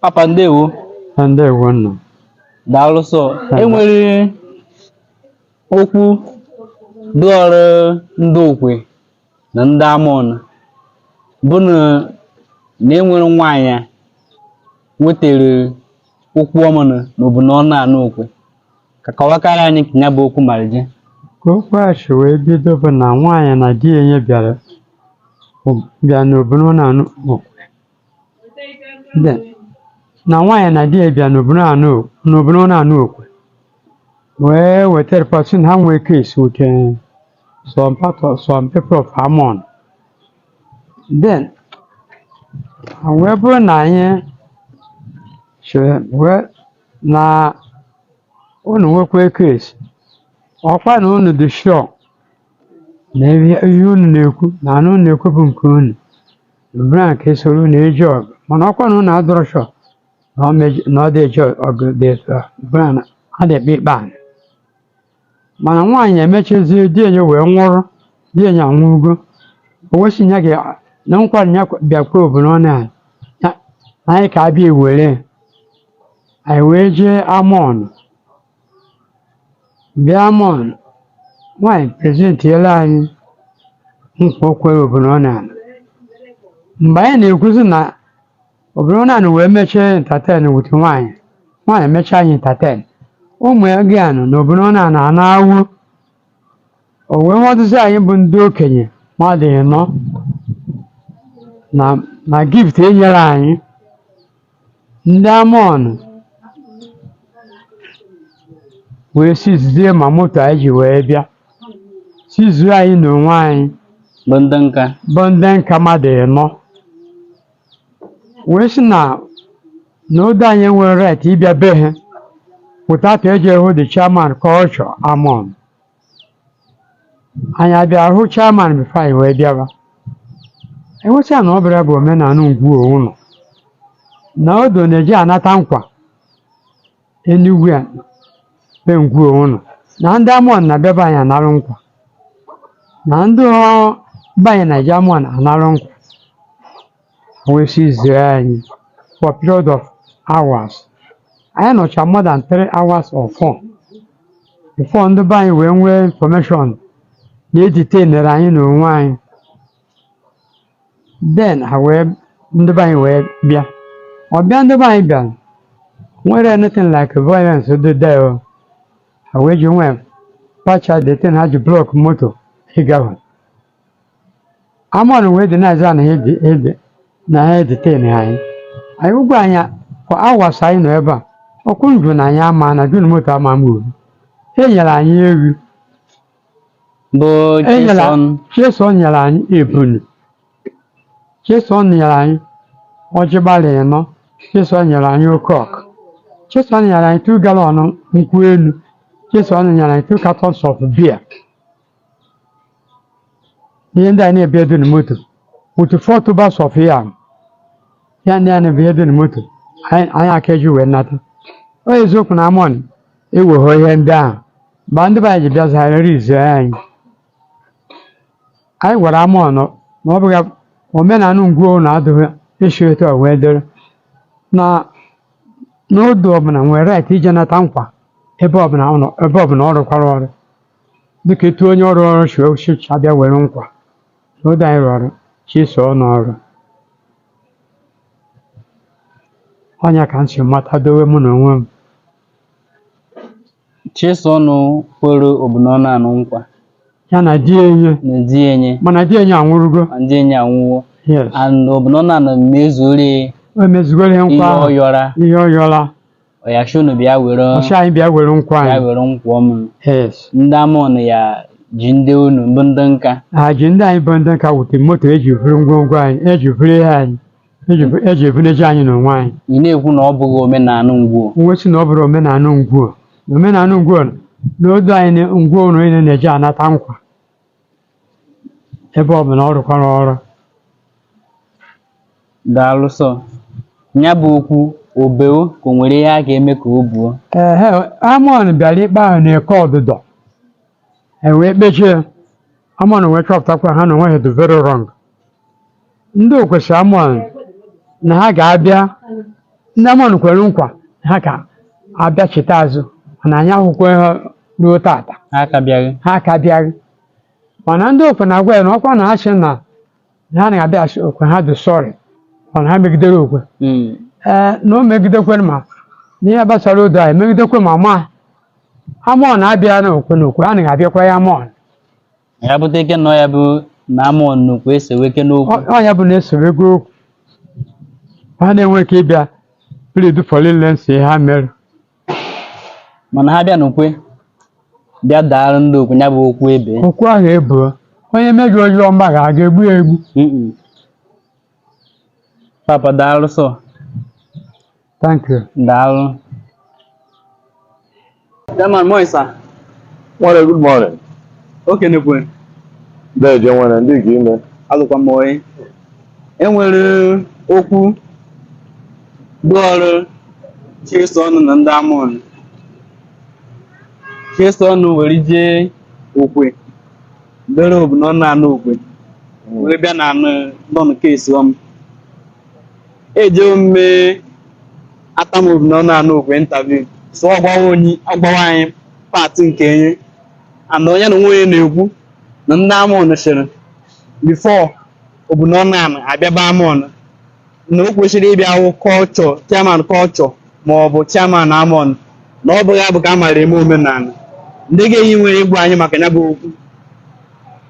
papa ndewo. ndewo nna. daalụ sọ enwere okwu dụọrọ ndị okwe na ndị amọn bụ na na enwere nwaanyị a wetere okwu omenala n'obu n'ọnụ anụ okwe ka kọwakara anyị ka ya bụ okwu mara je Ka okwu a si wee bido bụ na nwaanyị na di enye bịa n'obu n'ọnụ anụ okwe. na nwaanyị na di ya bịa na- n'obu n'ọnụ anụ okwe wee weta report sị na ha nwee case with eh, some part of some people of Amon then ha wee bụrụ na anyị chere wee na unu nwekwa case ọkwa na unu dị sure na ihe ihe unu na-ekwu na anụ unu na-ekwu bụ nke unu bụrụ nke e soro unu eje ọgụ mana ọkwa na unu adịrọ sure na ọ meji- na ọ dị eje ọgụ dị etu a bụrụ na adịkpa ikpe anyị mana nwaanyị emechezie di enye wee nwụrụ di enye anwụgo o wee sị ya ga na nkwari ya kwa- bịakwa obu n'ọnụ anụ na anyị ka abịa ewere ya. anyị wee jee amọn bịa amọn nwanyị presentiela anyị nkwa o kwere obu n'ọnụ anụ mgbe anyị na-ekwuzi na obu n'ọnụ anụ wee mechie entertain with nwanyị nwanyị mechaa anyị entertain ụmụ ya gị anụ na obu n'ọnụ anụ a na-awụ o wee họdụzi anyị bụ ndị okenye mmadụ ịnọ na na gift enyere anyị Ndị Amọn wee seizie ma moto anyị ji wee bịa seizuo anyị na onwe anyị bụ ndị nka bụ ndị nka mmadụ ịnọ wee sị na na odo anyị enwerọ right ịbịa be ha without eje hụ the chairman culture Amọn anyị abịa hụ chairman before anyị wee bịaba e wee sị ha na ọ bịara bụ omenala Ngwo Ụnọ na odo na-eje anata nkwa anywhere bụ Ngwo Ụnọ na ndị amọn na-abịa be anyị anarụ nkwa na ndị ọ be anyị na-eje amọn anarụ nkwa O wee seizie anyị for period of hours. Anyị nọcha more than three hours or four before ndị be anyị wee nwee information na e detainere anyị na onwe anyị. Then ha wee ndị be anyị wee bịa. Ọbịa ndị be anyị bịara nwere anything like violence dị there o. Ha wee jee wepụcha the thing ha ji block moto ịgafe. Amọn wee dị na-aza na ha ede- ede- na ha edetain anyị anyị ụgwọ anyị for hours anyị nọ ebe a ọkụ njụ na anyị ama na jun moto ama ama uru e nyere anyị ewu bụ Chisom nyere anyị ebunu Chisom nyere anyị ọjị gbalị ịnọ Chisom nyere anyị oke ọkụkọ Chisom nyere anyị two gallon nkwụ elu Chisom nyere anyị two cartons of beer ihe ndị a na-ebi edu na moto with four tubers of yam ya ndị a na-ebi edu na moto anyị ọ ya ka e ji wee nata ọ eziokwu na amọn ewegho ihe ndị ahụ mgbe ndị be anyị ji bịa zara rizie anyị anyị gwara amọn na ọ bụghị omenala ngwuo na adịghị esi etu a wee dịrị na odo ọbụla nwere right ije nata nkwa ebe ọbụla ọ nọ- ebe ọbụla ọ rụkwara ọrụ dịka etu onye ọrụ ọrụ si wee sị abịa were nkwa na odo anyị rụrụ Chisom ọrụ ọ nya ka m si mata dowe mụ na onwe m Chisom kwere Obinọnụ anụ nkwa ya na di enye na di enye mana di enye anwụrụgo ma di enye anwụwo yes and Obinọnụ anụ mezuore o mezugoro ihe ihe nkwa ahụ ọ yọra ihe ọ yọra ọ ya sị unu bịa were ọ sị anyị bịa were nkwa anyị bịa were nkwa m yes ndị amọn ya ji ndị unu bụ ndị nka ha ji ndị anyị bụ ndị nka wute moto eji vuru ngwongwo anyị eji vuru ihe anyị eji bu- eji ebuneje anyị n'onwe anyị ị na-ekwu na ọ bụghị omenala ngwuo nwe si na ọ bụrụ omenala ngwuo na omenala ngwuo na odo anyị na- ngwuo ụnọ niile na-eji anata nkwa ebe ọ bụ na ọ rụkwara ọrụ daalụ sọ ya bụ okwu o beo ka o nwere ihe a ga-eme ka o buo ehe amọn bịara ikpe ahụ n'Eke Odido e wee kpechie ya amọn wee chọpụtakwa ha na onwe ha dị very wrong ndị okwe sị amọn na ha ga-abịa ndị amọn kwere nkwa na ha ga-abịa cheta azụ mana anyị ahụkwa ha ruo tata ha ka bịaghị ha ka bịaghị mana ndị okwe na-agwa ya na ọkwa na ha sị na na ha na-abịa a sị okwe ha dị sorry mana ha megidere okwe Mm. ee na o megidekwe ma n'ihe gbasara odo a emegidekwe ma ma amọn abịa na okwe na okwe a na-abịakwa ya amọn ya bụta ike nọ ya bụ na amọn na okwe esewekwa okwu Ọ- ọ ya bụ na esewekwa okwu ha na-enwe ike ịbịa plead for leniency ihe ha mere mana ha bịa n'okwe bịa daara ndị okwe ya bụ okwu ebe okwu ahụ ebuo onye mejọ ozi ọma ga a ga-egbu ya egbu Mm-mm. papa daalụ sọ Thank you. Daalụ. Chairman Moisa, Nwere good morning. okay nekwe, Deje nwere ndị ka ime. alụkwa m oyi. E nwere okwu dị ọrụ Chisom na ndị Amaọnụ. Chisom were jee Okwe, bere Obunọ na anọ Okwe, were bịa na ụnọ Chisom. ejewo m mee atam Obunọ na anọ Okwe interview so ọ gwawa onye ọ gwawa anyị part nke enye and onye na nwunye na-ekwu na ndị Amaọnụ sịrị before Obunọ na anọ abịaba Amaọnụ na o kwesịrị ịbịa hụ culture chairman culture ma ọ bụ chairman Amaọnụ na ọ bụghị abụ ka a mara eme omenala ndị ga-eyi nwere ịgwa anyị maka ya bụ okwu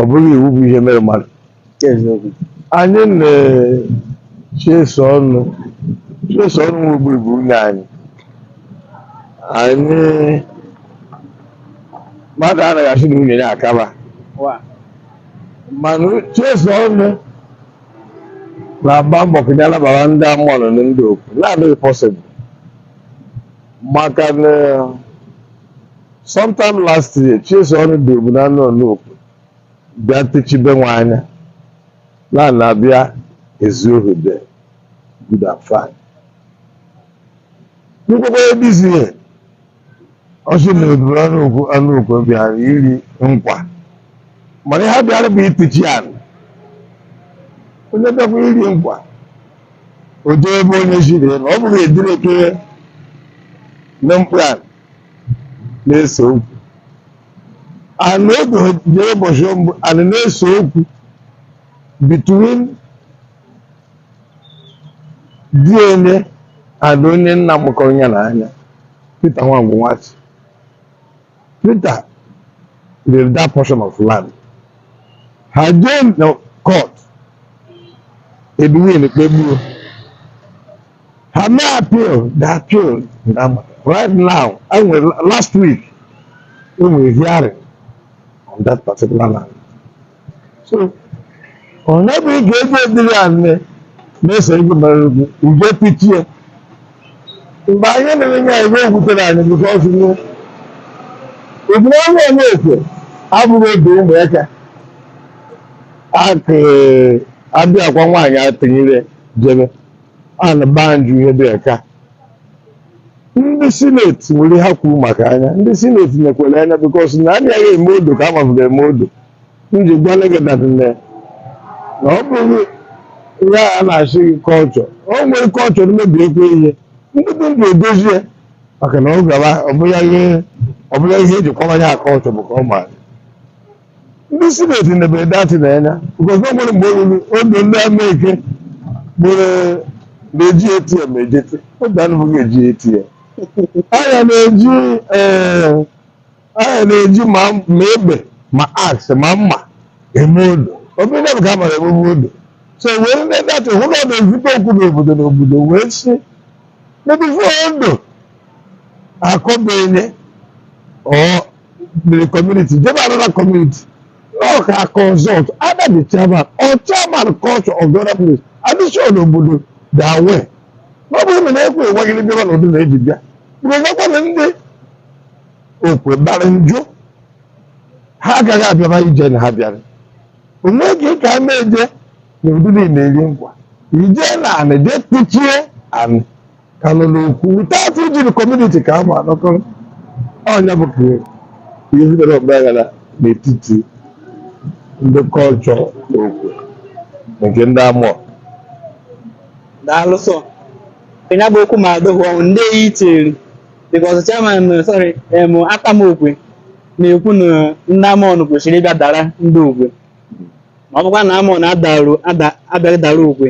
ọ bụghị iwu bụ ihe mere mmadụ eziokwu anyị na Chisom Chisom nwe bụbu nwunye anyị anyị mmadụ anaghị asị na nwunye ya akaba wa mana Chisom na-agba mbọ ka ya nabara ndị Amaọnụ na ndị okwu na-adịghị possible maka na Sometime last year, Chisom ndị Obu na anọ n'Okwe bịa tichibe nwa anya na na-abịa ezu ohi there good and fine. Nkwekwe ebizi ihe ọ sị na eburu anụ okwu anụ okwu bịara iri nkwa mana ihe bịara bụ itichi anị onye bịakwa iri nkwa o jee ebe onye ziri na ọ bụghị edire kere na mkpụrụ anị na-ese okwu and oge ha jere ụbọchị mbụ and na-ese okwu between di enye and onye nna mụkọrọ ya na anya Peter Nwangwu Nwachi Peter rere that portion of land ha jee na court Edwin kpegbuo ha mee appeal the appeal na- right now enwe last week enwere hearing on that particular land so onye bụ ike ebe dịrị ya nne na-ese ego mere ugwu ugo pichie mgbe anyị na-enye ya ego gwutere anyị because ebule ọnwa onye ekwe abụghị oge ụmụaka akụ abịakwa nwaanyị atụnyere jebe a na baa njụ ihe dị ka ndị sineti nwere ha kwuru maka anya ndị sineti nekwere anya because na anaghị eme odo ka amabụga eme odo m ji gwa gị na nne na ọ bụrụ ya a na-asị gị culture o nwere culture mebiekwa ihe ndị dị ndụ edozie ya maka na ọ gara ọbụla ihe ọbụla ihe eji kwara ya culture bụ ka ọ maara ndị sineti nebere dati na anya because o nwere mgbe o ruru odo ndị Amaeke gbere na-eji atm ejete oge anụ bụghị eji atm anya na-eji ee anya na-eji ma ma egbe ma axe ma mma eme odo obere bụ ka a mara emume odo so wee ndị dati hụ na ọ na-ezute okwu n'obodo n'obodo wee si n'ebe odo akọbenye ọ the community jebe another community ọka consult either the chairman or chairman culture of the other place adịchọn obodo da we ọ bụrụ na na-ekwe enweghịrị bịaba n'odo na eji bịa mgbe gakwana ndị okwe bara njụ ha agaghị abịaba ije na ha bịara onwe gị ka a na-eje n'odo niile eri nkwa ije na anị jee kpuchie anị kalụ n'okwe without ijiri community ka a ma anọkọrọ ọ ya bụ ka ihe bidoro ọgbaghara n'etiti ndị culture na okwe nke ndị amọn daalụ so ya bụ okwu ma adogwu ọnwụ ndị eyi tinyere because chairman eh, sorry em atama okwe na-ekwu na ndị amọn kwesịrị ịbịa dara ndị okwe ma ọ bụkwa na amọn adaru ada abịaghị dara okwe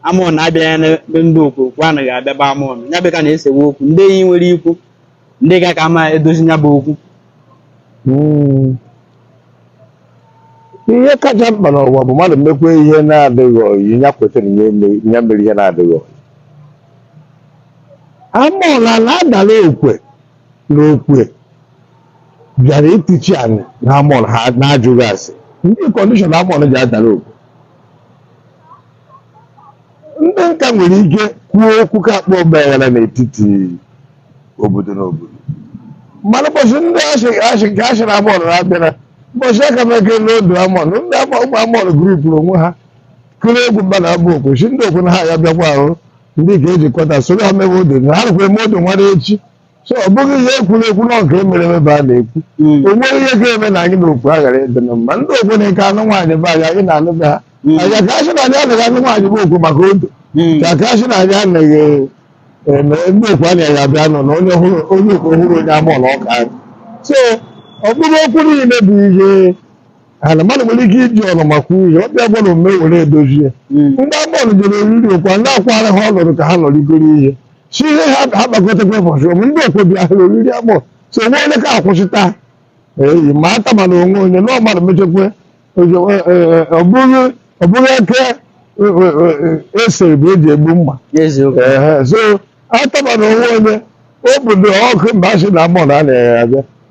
amọn na-abịa n'ebe ndị okwe okwe anaghị abịa be amọn ya bụ ka na-esewe okwu ndị enyi nwere ikwu ndị ga ka ama edozi ya bụ okwu Mm. ihe kacha mkpa n'ụwa bụ mmadụ mekwa ihe na-adịghị oyi ya kwetara ya eme- ya mere ihe na-adịghị oyi amọla na-adara okwe na okwe bịara itichi anyị na amọl ha na-ajụghị ase ndị condition amọl ji adara okwe ndị nka nwere ike kwuo okwu ka akpa ọgbaghara n'etiti obodo na obodo mana ụbọchị ndị asị nke asị na amọn na-abịara ụbọchị aka m eke n'odo amọn ndị ụmụ amọn gurupụrụ onwe ha kụrụ egwu bana be okwe sị ndị okwe na ha ya bịakwa ahụ ndị ka ejikọta soro ha mewe odo ha rụkwara eme odo nwanne echi so ọ bụghị ihe ekwuru ekwu na nke mere emebe a na-ekwu Mm. o nwere ihe ga-eme na anyị na okwe aghara ịdị na mma ndị okwe na-eke anụ nwaanyị be anyị anyị na-anụ be ha Mm. anyị ka asị na anyị anaghị anụ nwaanyị be okwe maka odo Mm. ka ka asị na anyị anaghị eme ndị okwe anyị ya bịa nọ na onye hụrụ onye okwe hụrụ onye amọla ọka anyị so ọ bụrụ okwu niile bụ ihe ana mmadụ nwere ike iji ọnụ maka ihe ọ bịa gbara omume were edozie Mm. ndị agbọọlụ jere oriri ụkwa ndị akwara ha ọnọdụ ka ha nọrigoro ihe si ihe ha ha kpakọtakwa ụbọchị ọmụ ndị okwe bịa ha oriri agbọ so o nwee onye ka akwụsịta eyi ma ata mana onwe onye na ọ mmadụ mechakwa ojo- e- e- e- ọ bụghị ọ bụghị eke e- e- e- e- esere bụ eji egbu mma eziokwu Ehe, so atabana onwe onye obodo ọkụ mba asị na mọ na a na-ere abịa